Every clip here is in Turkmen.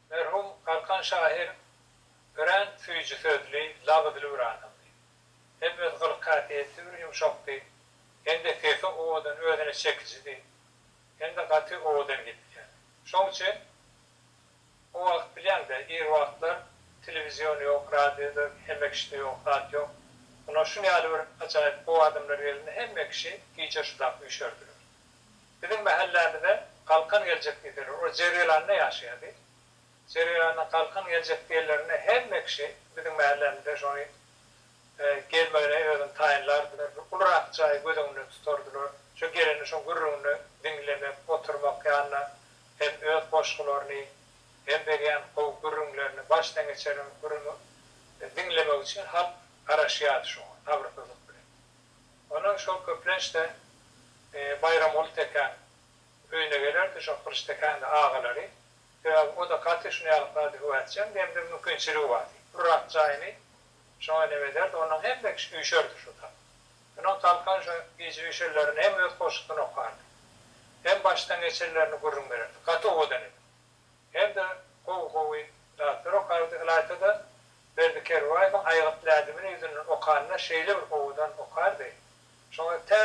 Merhum Galkan şahyr örän süýji sözli, lal dili bir adamdy. Hem öz gylyk-häsiýeti bir ýumşakdy, hem-de sesi owadan, özüne çekijidi, hem-de gaty owadan gepleýärdi. Şoň üçin o wagt bilýäň-dä, ir wagtlar telewizion ýok, radioda hemme kişide ýok, zat ýok. Ýöne şuny ýaly bir ajaýyp gowy adamlar gelende hemme kişi gije şulap üýşerdiler. Biziň mähellämize Galkan geljek diýseler, ol Jergelanda ýaşaýardy. Jergelanda Galkan geljek diýenlerinde hemme kişi biziň mähellämizde şony gelmegine özüni taýynlardylar. Bir ulurak jaýy göz öňünde tutardylar. Şo gelende şoň gürrüňini diňlemek, oturmak ýanynda hem öz goşgularyny, hem berýän gowy gürrüňlerini, başdan geçireniň gürrüňi diňlemek üçin halk garaşýardy şoňa sabyrsyzlyk bilen. Ondan şol köplenç-de Baýramguly tekäň öýüne gelerdi, şol Gylyç tekäň-de agalary. Sebäbi o-da gaty şuny ýaly kylady, höwätjeň, demde mümkinçiligi bardy. Urrak jaýyny şoňa nem ederdi, ondan hemme kişi üýşerdi şo tal. Şonuň talkan şo gije üýşenlerinde hem öz goşgusyny okardy. Hem başdan geçenlerini gürrüň bererdi. Gaty owadan eken. Hem-de gowy-gowy zatlar okardy. Ylaýta-da, Berdi Kerbaýewiň Aýgyt lädibini ýüzünden okanda şeýle bir owadan okardy. Şoňa tä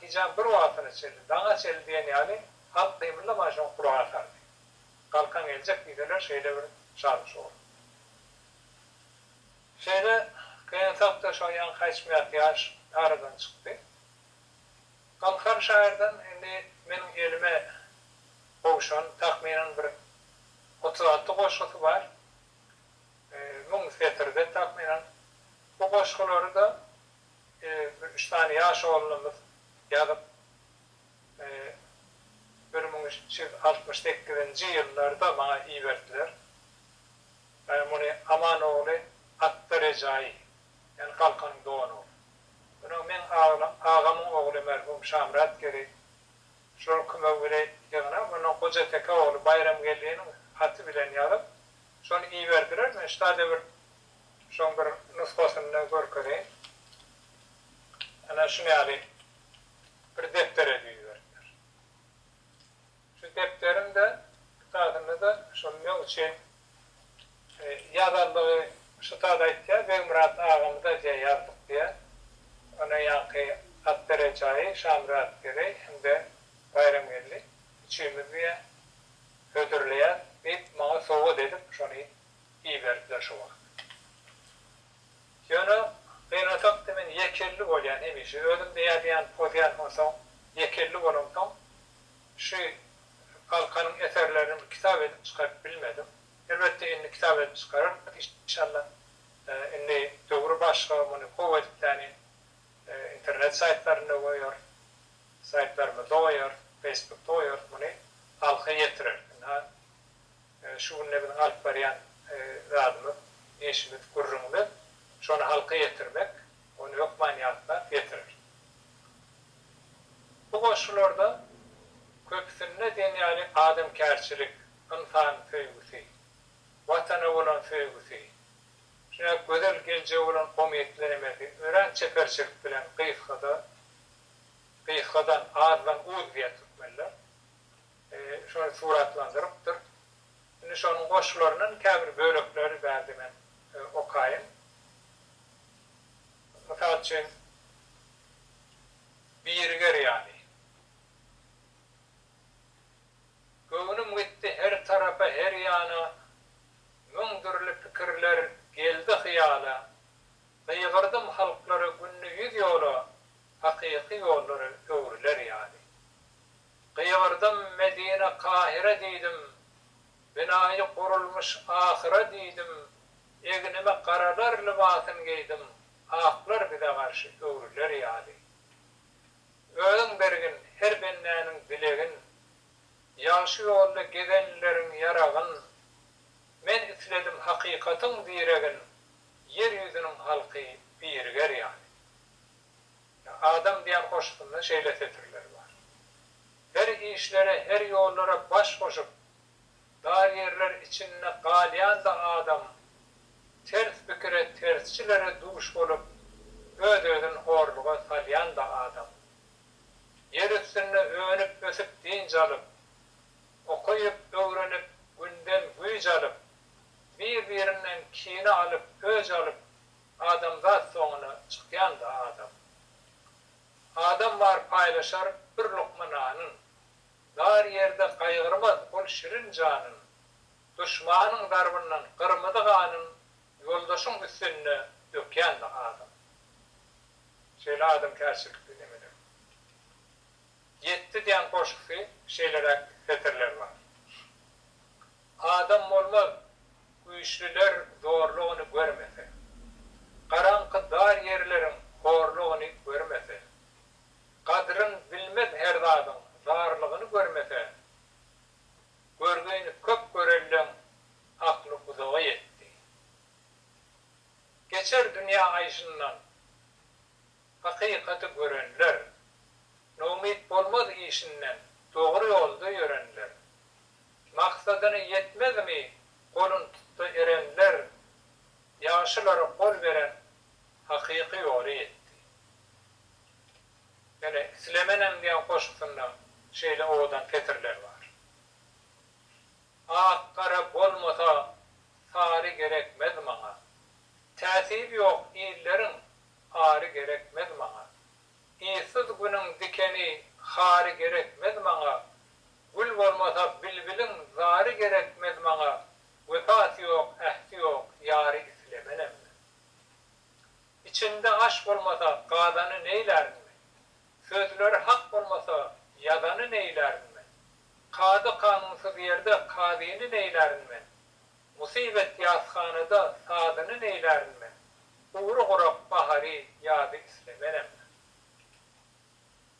gijäň bir wagtyna çenli, daňa çenli diýen ýaly halk gymyldaman şoňa gulak asardy. Galkan geljek diýseler şeýle bir şadyş boldy. Şeýle gynansakda şo ýaňky aýtmyat ýaş aradan çykdy. Galkan şaýyrdan indi meniň elime gowşan takmynan bir otuz alty goşgusy bar. Müň setirde takmynan. Bu goşgulary-da bir üç sany ýaş oglumyz ýazyp, bir müň üç ýüz altmyş sekizinji ýyllarda maňa iberdiler. Muny Aman ogly Atda Rejaýy. Men Galkanyň doganyňam. Ynha, meň aglam, agamyň ogly merhum Şamyrat Geli şol küme bile ýygnap, ondan Gojateke ogly Baýramgeldiniň haty bilen ýazyp, şony iberdiler. Men şuda-da bir şoň bir nusgasyny-da görkezeýin. Ynha, şuny ýaly bir depdere düzüberdiler. Şu depderimde, kitabynda-da şol men üçin ýazandygy şu taýda aýtýar, Begmyrat agamy da jeý aldyk diýýär. Ony ýaňky Akdere jaýy Şamyrat Gereý hem-de Baýramgeldi üçimiz diýýär, hödürleýäs diýip, maňa sowgat edip şony iberdiler şu wagt. Ýöne gynansakda men ýekelli bolýan hemişe. Özüm-de ýazýan, pozýan, onsoň ýekelli bolamsoň Şu Galkanyň eserlerini bir kitap edip çykaryp bilmedim. Elbetde indi kitap edip çykararys inşalla. Indi döwür başga, muny gowy edip täni internet saýtlarynda goýarys, saýtlarymyzda goýarys, feýsbukda goýarys, muny halka ýetireris. Ynha, şu günde biziň alyp barýan zadymyz, işimiz, gürrüňimiz şony halka ýetirmek. Ony hökman ýatlar, getirer. Bu goşgularda köpüsinde diýen ýaly adamkärçilik, ynsan söýgüsi, Watana bolan söýgüsi, şuny gözel geljege bolan umytlenmesi örän çeperçilik bilen gysgada, gysgadan, azdan uz diýýär türkmenler, şony suratlandyrypdyr. Indi şonuň goşgularyndan käbir bölekleri bärde men okaýyn. Mysal üçin, biriger ýaly. Göwnüm gitdi her tarapa, her ýana, Müň dürli pikirler geldi hyýala. Gygyrdym halklara günde ýüz ýola, Hakyky ýollar öwrüler ýaly. Gygyrdym Medina, Kahyra diýdim, Binaýy gurulmyş ahyra diýdim, Egnime garalar lybasyn geýdim, Aklar bize garşy öwrüler ýaly. Özüň bergin her bendäniň dilegin, Ýagşy ýolda gezenleriň ýaragyn. Men isledim hakykatyň diregin, Ýer ýüzüniň halky biriger ýaly. Adam diýen goşgusynda şeýle setirler bar. Her işlere, her ýollara baş goşup, dar ýerler içinde galýan-da adam, ters pikire, tersçilere duş bolup, öz-özün horluga salýan-da adam. Ýer üstünde önüp-ösüp dynç alyp, okaýyp-öwrenip, günden güýç alyp, bir-birinden kine alyp, öç alyp, Adamzat soňuna çykýanda adam. Adam bar paýlaşar bir lukma nanyn. Dar ýerde gaýgyrmaz ol şirin janyn. Duşmanyň darbyndan gyrmyzy ganyn ýoldaşyň üstünde dökýände adam. Şeýle adamkärçilikli nemeler. Ýetdi diýen goşgusy şeýleräk setirler bar. Adam bolmaz, güýçlüler zorlugyny görmese, garaňky dar ýerleriň horlugyny görmese, gadryn bilmez her zadyň zarlygyny görmese, görgini köp görenleň akly uzaga ýetdi. Geçer dünýä aýşyndan hakykaty görenler, noumyt bolmaz işinden dogry ýolda ýörenler, Maksadyna ýetmezmi golun tutdy erenler, Ýagşylara gol beren hakyky ýoly ýetdi. Ýöne islemenem diýen goşgusynda şeýle owadan setirler bar. Ak gara bolmasa sary gerekmez maňa, Täsir ýok illeriň ary gerekmez maňa, Yzsyz günüň dikeni hary gerekmez maňa, Gül bolmasa bilbiliň zary gerekmez maňa, Wepasy ýok, ähti ýok, ýary islemenem men. Içinde aş bolmasa gazany neýlärin men, Sözleri hak bolmasa ýazany neýlärin men, Kady-kanunsyz ýerde kazyny neýlärin men, Musybet ýashanada sazyny neýlärin men, Gury gurak bahary, ýazy islemenem men.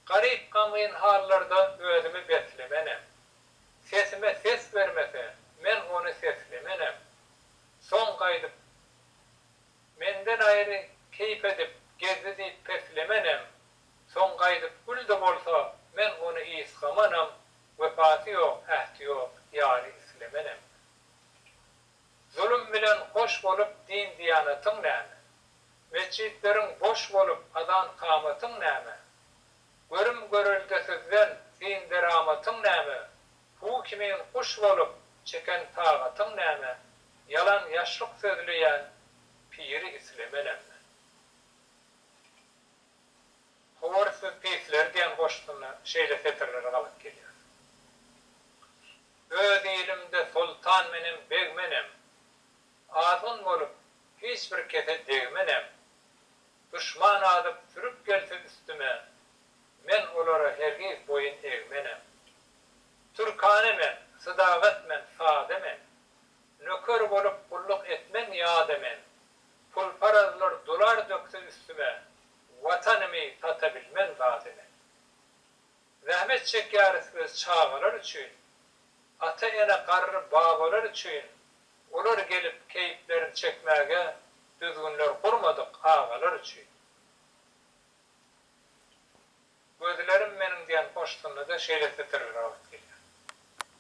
Garyp gamgyn hallarda özümi beslemenem. Sesime ses bermese, men ony seslemenem. Soň gaýdyp Menden aýry keýp edip gezdi diýip peslemenem. Soň gaýdyp gül-de bolsa, men ony ysgamanam, Wepasy ýok, ähti ýok ýary islemenem men. Zulum bilen hoş bolup din-diýanatyň näme? Metjitleriň boş bolup azan-kamatyň näme? Görüm-göreldesizden syn-deramatyň näme? Hu kimin guş bolup çeken tagatyň näme? Ýalan ýaşlyk sözleýän piri isleme näme? Howar siz pisler diýen goşgusynda şeýle setirleri gabat gelýär. Öz ilimde soltan menem, beg menem. Azgyn bolup, hiç bir kese degmenem. Duşman azyp, sürüp gelse üstüme, men olara hergiz boýun egmenem. Türkane men, sydagat men, sada men. Nöker bolup, gulluk etmen ýada men. Pulparazlar dolar dökse üstüme, Watanymy sata bilmen zada men. Zähmet çekýäris biz çagalar üçin, Ata-ene garry babalar üçin, Olar gelip keýplerin çekmäge, Düzgünler gurmadyk agalar üçin. Gözlerim meniň diýen goşgynda-da şeýle setirler agyryp gelýär.